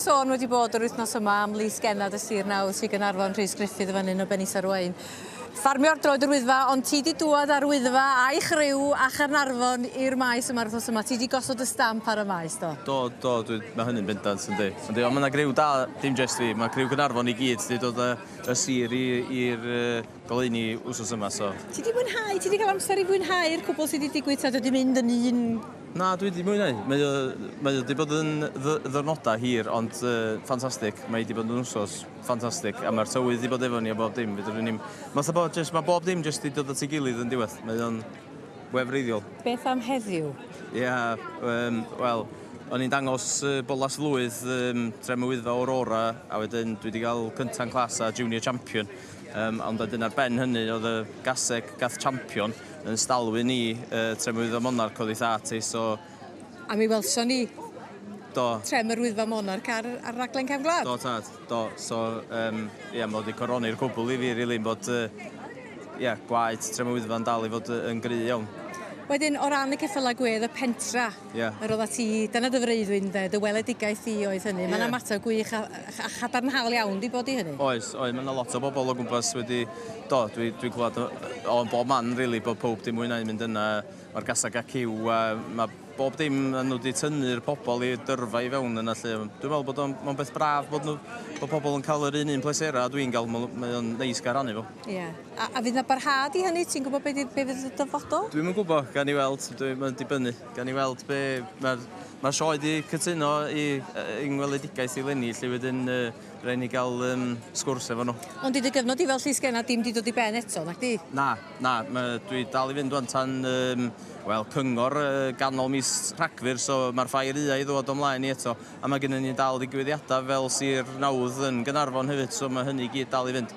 Sôn wedi bod yr wythnos yma am lys genad y sir nawdd Sir Gaernarfon, Rhys Gruffydd yn fan hyn o Ben Isa'r Waun. Ffarmio'r droed yr Wyddfa, ond ti di dŵad â'r Wyddfa a'i chriw a Chaernarfon i'r maes yma'r wythnos yma. Ti di gosod y stamp ar y maes, do? Do, do, dwi, mae hynny'n bendant yn di. Yndi, ond mae yna griw da, dim jest fi, mae criw Gaernarfon i gyd, di dod y, y sir i'r... goleuni wsos yma so. Ti di mwynhau? Ti di cael amser i fwynhau'r cwbl sydd wedi digwydd ta dydi mynd yn un Na, dwi 'di mwynhau. Mae o, mae o 'di bod yn ddy- ddiwrnodau hir, ond yy ffantastig. Mae 'di bod yn wsos ffantastig, a mae'r tywydd 'di bod efo ni a bob dim. Fedrwn ni'm... Mae fatha bod jyst, mae bob dim jyst 'di dod at ei gilydd yn diwedd. Mae o'n wefreiddiol. Beth am heddiw? Ia, um, wel, o'n i'n dangos uh, bolas flwydd um, Trefn Wyddfa Aurora, a wedyn dwi wedi cael cynta'n clas a junior champion. Yym, ond wedyn ar ben hynny oedd y gaseg gath champion yn stalwyn ni yy trem yr Wyddfa Monarch oddi 'tha ti so... A mi welson ni... Do. ...trem yr Wyddfa Monarch ar ar raglen Cefn Gwlad. Do tad, do, so yym ia ma' 'di coroni'r cwbwl i fi rili yn bod yy ia gwaed trem y Wyddfa'n dal i fod yy yn gry' iawn. Wedyn o ran y ceffyla gwedd y pentra? Ie. Yr oedda ti, dyna dy freuddwyd ynde, dy weledigaeth di oedd hynny. Mae'n ymateb gwych a, a chadarnhaol iawn di bod i hynny. Oes, oes, mae yna lot o bobl o gwmpas wedi, do, dwi, dwi clywed o, o bob man rili, really, bod pob dim mwynhau mynd yna, mae'r gasag ac yw, a mae bob dim yn nhw wedi tynnu'r pobl i dyrfa i fewn yna lle. Dwi'n meddwl bod o'n beth braf bod, nhw, bod pobl yn cael yr un un pleserau a dwi'n cael, mae o'n neis gael rhannu fo. Ie. Yeah. A, a fydd na barhad i hynny? Ti'n gwybod beth fydd y dyfodol? Dwi'm yn gwybod, gan i weld, dwi'n mynd i bynnu. Gan i weld be... Mae'r ma sioe wedi cytuno i yng ngweledigaeth i lenni, lle wedyn uh, rhaid ni gael um, sgwrs efo nhw. Ond i dy gyfnod i fel llys genna dim di dod i ben eto, nac di? Na, na, ma, dwi dal i fynd o'n tan, um, wel, cyngor uh, ganol mis Rhagfyr, so mae'r ffair ua i ddod o'mlaen i eto. A mae gennym ni dal ddigwyddiadau fel sir nawdd yn Gynarfon hefyd, so mae hynny gyd dal i fynd.